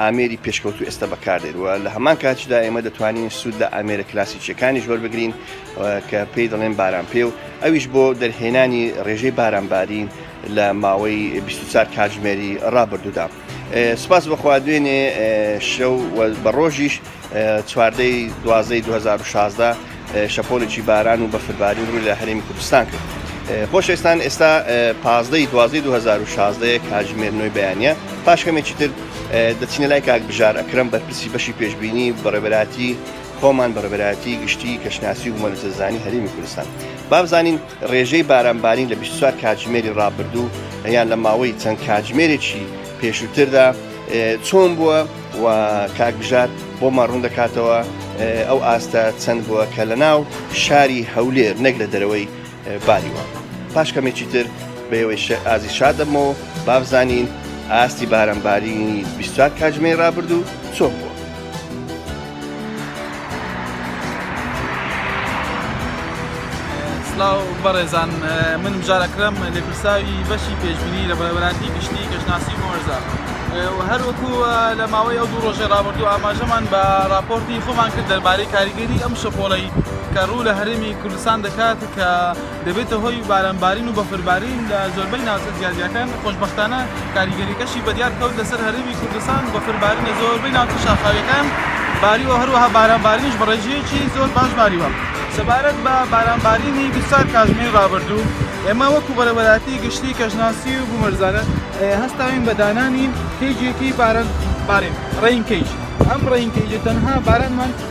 ئامێری پێشکەوتوو ئێستا بەکاردێت و لە هەمان کاتیشدا ئێمە دەتوانین سوود لە ئامێرە کلاسیکیەکانیش وەربگرین کە پێی دەڵێن باران پێ و ئەویش بۆ دەرهێنانی ڕێژەی بارانبارین لە ماوەی 24 کاتژمێری ڕابردوودا سپاس بەخوا دوێنێ شەو بە ڕۆژیش چواردە ی دوازدە ی دوو هەزار و شازدە شەپۆلێکی باران و بەفربارین ڕووی لە هەرێمی کوردستان کرد. خۆشەویستان ئێستا پازدە ی دوازدە ی دوو هەزار و شازدە یە کاتژمێر نۆی بەیانییە پاش کەمێکی تر دەچینە لای کاک بژار ئەکرەم بەرپرسی بەشی پێشبینی بەڕێوەبەرایەتی خۆمان بەڕێوەبەرایەتی گشتی کەشناسی و بومەلەرزەزانی هەرێمی کوردستان با بزانین ڕێژەی بارانبارین لە بیست و چوار کاتژمێری ڕابردوو یان لە ماوەی چەند کاتژمێرێکی پێشووتردا چۆن بووە و کاک بژار بۆمان ڕوون دەکاتەوە ئەو ئاستە چەند بووە کە لە ناو شاری هەولێر نەک لە دەرەوەی باریوە پاش کەمێکی تر بەوەی ئازی شاد دەبمەوە بابزانین ئاستی بارمبارینی 24 کاتژمێ رابرردوو چۆن بووە سڵاو بەڕێزان من مژارەکرم لێپرساوی بەشی پێشبینی لە بەرەبەراتی گشتی کەشناسی مۆرزە هەروەکو لە ماوەی ئەو دوو ڕۆژێ ڕابردوو ئاماژەمان بە راپۆرتی خۆمان کرد دەربارەی کاریگەری ئەم شەپۆڵەی کە ڕوو لە هەرێمی کوردستان دەکات کە دەبێتە هۆی بارانبارین و بەفربارین لە زۆربەی ناوچە جیاجیاکان، خۆشبەختانە کاریگەرییەکەشی بەدیار کەوت لەسەر هەرێمی کوردستان، بەفربارین لە زۆربەی ناوچە شاخاوییەکان باریوە و هەروەها بارانبارینیش بە ڕێژەیەکی زۆر باش باریوە. سەبارەت بە بارانبارینی بیست و چوار کاتژمێری ڕابردوو، ئێمە وەکو بەڕێوەبەرایەتی گشتی کەشناسی و بومەلەرزانە هەستاوین بە دانانی کەیجێکی بارانبارین، Rain Cage، ئەم Rain Cage-ە تەنها بارانمان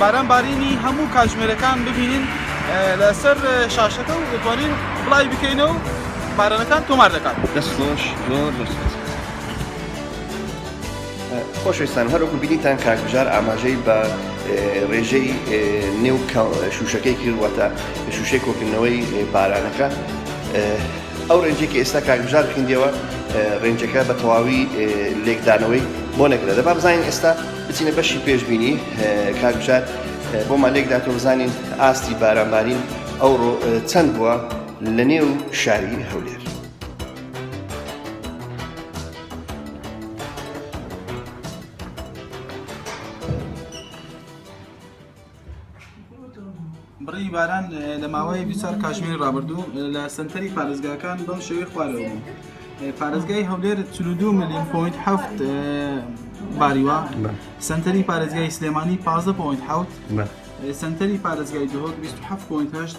باران بارینی هەموو کاتژمێرەکان ببینین لەسەر شاشەکە و دەتوانین بڵاوی بکەینەوە و بارانەکان تۆمار دەکات. دەست خۆش زۆر زۆر سوپاس. خۆشەویستان هەر وەکو بینیتان کاک بژار ئاماژەی بە ڕێژەی نێو شوشەکەی کرد واتە شوشەی کۆکردنەوەی بارانەکە ئەو ڕێنجەی کە ئێستا کاک بژار خویندیەوە ڕێنجەکە بە تەواوی لێکدانەوەی بۆ نەکرا دەبا بزانین ئێستا بچینە بەشی پێشبینی کاک بژار بۆمان لێک داتەوە بزانین ئاستی بارانبارین ئەوڕۆ چەند بووە لە نێو شاری هەولێر بڕی باران لە ماوەی بیچار کاژمێری ڕابردوو لە سنتەری پارێزگاکان بەم شێوەی خوارەوە بوو پارێزگای هەولێر 42 میلیۆن پوینت هەفت باریوە سنتەری پارێزگای سلێمانی 15 پوینت حوت سنتەری پارێزگای دهۆک 27 پوینت هەشت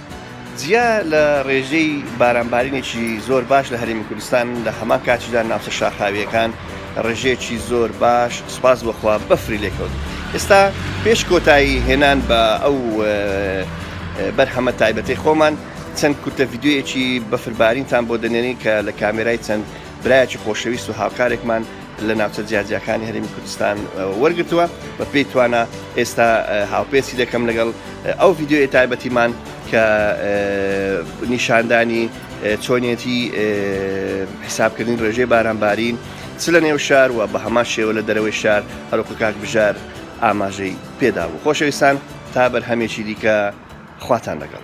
جیا لە رێژەی بارانبارینێکی زۆر باش لە هەرێمی کوردستان، لە هەمان کاتیشدا ناوچە شاخاوییەکان رێژەیەکی زۆر باش سوپاس بۆ خوا بەفری لێکەوت. ئێستا پێش کۆتایی هێنان بە ئەو بەرهەمە تایبەتەی خۆمان، چەند کورتە ڤیدیۆیەکی بەفربارینتان بۆ دەنێرین کە لە کامێرای چەند برایەکی خۆشەویست و هاوکارێکمان، لە ناوچە جیاجیاکانی هەرێمی کوردستان وەرگرتووە بە پێی توانا ئێستا هاوپێسی دەکەم لەگەڵ ئەو ڤیددیوی تایبەتیمان کە نیشاندانی چۆنیەتی حیسابکردنی ڕێژەی بارانبارین چ لە نێو شار و بە هەمان شێوە لە دەرەوەی شار هەروکو کاک بژار ئاماژەی پێدا بوو خۆشەویستان تا بەرهەمێکی دیکە خواتان لەگەڵ